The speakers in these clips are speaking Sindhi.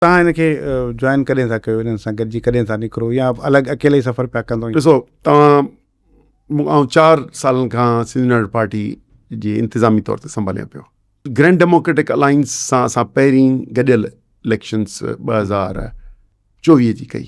توهان هن کي جوائن ڪڏهن ٿا ڪيو هنن سان گڏجي ڪڏهن ٿا نڪرو يا الڳ اڪيلي ئي سفر پيا ڪندو. ڏسو توهان مون آئون چار سالن کان سنڌ يونائيٽيڊ پارٽي جي انتظامي طور تي سنڀاليان پيو گرينڊ ڊيموڪريٽڪ الائنس سان اسان پهرين گڏيل اليڪشنس ٻه هزار چوويهه جي ڪئي.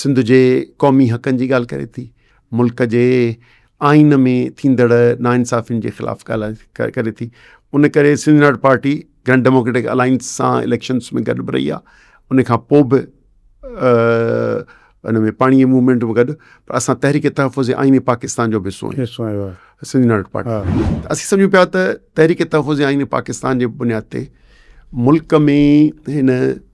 سنڌ جي قومي حقن جي ڳالهه ڪري ٿي، ملڪ جي آئين ۾ ٿيندڙ ناانصافين جي خلاف ڳالهه ڪري ٿي، ان ڪري سنڌ ناٽ پارٽي گرنڊ ڊيموڪريٽڪ الائنس سان اليڪشنس ۾ گڏ به رهي آهي، ان کان پوء به ان ۾ پاڻي جي موومينٽ ۾ گڏ پر اسان تحريڪ تحفظ آئين پاڪستان جو به حصو آهيون سنڌ ناٽ پارٽي اسين سمجهون پيا ته تحريڪ تحفظ آئين پاڪستان جي بنياد تي ملڪ ۾ هن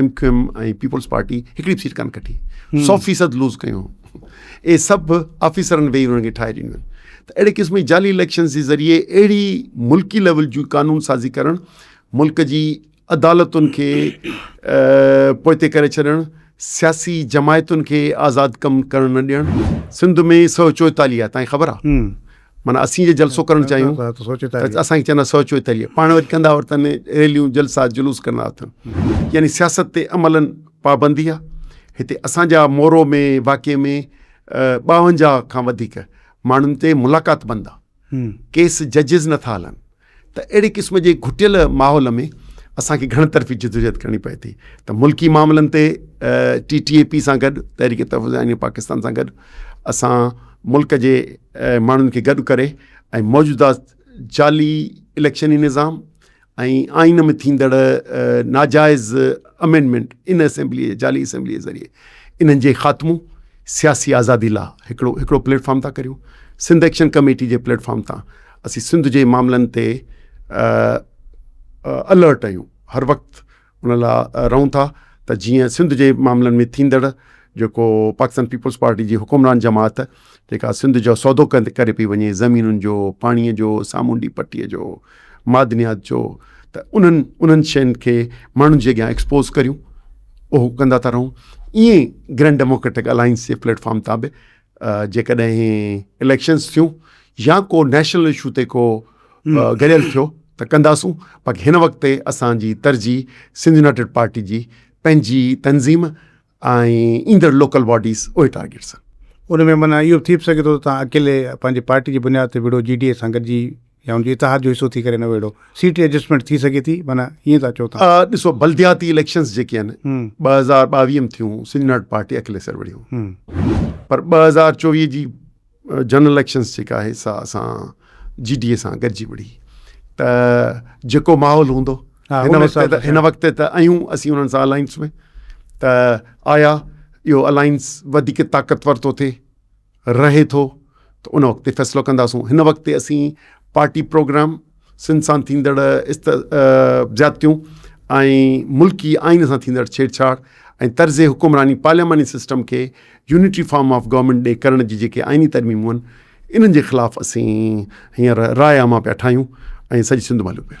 M Q M ۽ Peoples Party هڪڙي به سيٽ ڪانه کٽي سؤ فيصد لوز ڪيون اي سڀ آفيسرن ويهي انهن کي ٺاهي ڏنيون ته اهڙي قسم جي جعلي اليڪشنز جي ذريعي اهڙي ملڪي ليول جي قانون سازي ڪرڻ ملڪ جي عدالتن کي پوئتي ڪري ڇڏڻ سياسي جماعتن کي آزاد ڪم ڪرڻ نه ڏيڻ سنڌ ۾ سؤ چوئيتاليهه تائين خبر آهي معنيٰ اسين جي جلسو ڪرڻ چاهيون ته اسان کي چوندا سو چوي تليء پاڻ وري ڪندا ورتن ريليون جلسا جلوس ڪندا اٿن يعني سياست تي عملن پابندي آ هتي اسان جا مورو ۾ واقعي ۾ ٻاونجاهه کان وڌيڪ ماڻهن تي ملاقات بند آ ڪيس ججز نٿا هلن. ته اهڙي قسم جي گهٽيل ماحول ۾ اسان کي گهڻ طرفي جدوجهد ڪرڻي پئي ٿي ته ملڪي معاملن تي ٽي ٽي اي پي سان گڏ تحريڪ تحفظ آئين پاڪستان سان گڏ اسان ملڪ جي ماڻهن کي گڏ ڪري ۽ موجوده جعلي اليڪشني نظام ۽ آئين ۾ ٿيندڙ ناجائز امينڊمنٽ ان اسيمبلي جعلي اسيمبلي ذريعي انهن جي خاتمو سياسي آزادي لا هڪڙو هڪڙو پليٽفارم ٿا ڪريون سنڌ ايڪشن ڪميٽي جي پليٽفارم تان اسين سنڌ جي معاملن تي الرٽ آهيون هر وقت ان لاء رهون ٿا ته جيئن سنڌ جي معاملن ۾ ٿيندڙ جيڪو پاڪستان پيپلز پارٽي جي حڪمران جماعت جيڪا سنڌ جو سودو ڪري پئي وڃي زمينن جو پاڻيء جو سامونڊي پٽيء جو معدنيات جو ته انهن انهن شين کي ماڻهن جي اڳيان ايڪسپوز ڪريون اهو ڪندا ٿا رهون ائين گرينڊ ڊيموڪريٽڪ الائنس جي پليٽ فارم تان به جيڪڏهن هي اليڪشنز ٿيون يا ڪو نيشنل اشو تي ڪو گڏيل ٿيو ته ڪنداسون باقي هن وقت تي اسانجي ترجيح سنڌ يونائٽيڊ پارٽي جي پنهنجي تنظيم ۽ ايندڙ لوڪل باڊيز اهي ٽارگيٽس آهن ان ۾ معنيٰ اهو به ٿي به سگهي ٿو ته تون اڪيلي پنهنجي پارٽي جي بنياد تي وڙهو جي ڊي اي سان گڏجي يا ان جي اتحاد جو حصو ٿي ڪري نه ويڙهو سيٽ ايڊجسٽمينٽ ٿي سگهي ٿي معنيٰ ائين ٿا چئو تهان. ڏسو بلدياتي اليڪشنز جيڪي آهن ٻه هزار ٻاويهه م ٿيون سنڌ پارٽي اڪيلي سر وڙهي هو پر ٻه هزار چوويهه جي جنرل اليڪشنز جيڪا آهي سا اسان جي ڊي اي سان گڏجي وڙهي ته جيڪو ماحول هوندو هن وقت ته هن وقت ته ايون اسين انهن سان الائنس ۾ ته آيا اهو الائنس وڌيڪ طاقتور ٿو ٿئي. رهي ٿو ته ان وقت تي فيصلو ڪنداسون هن وقت تي اسين پارٽي پروگرام سنڌ سان ٿيندڙ است زيادتيون ۽ ملڪي آئين سان ٿيندڙ ڇيڙڇاڙ ۽ طرز حڪمراني پارلياماني سسٽم کي يونٽري فارم آف گورنمينٽ ڏي ڪرڻ جي جيڪي آئيني ترميمون آهن انهن جي خلاف اسين هينئر راء عامه پيا ٺاهيون ۽ سڄي سنڌ مهلو پيل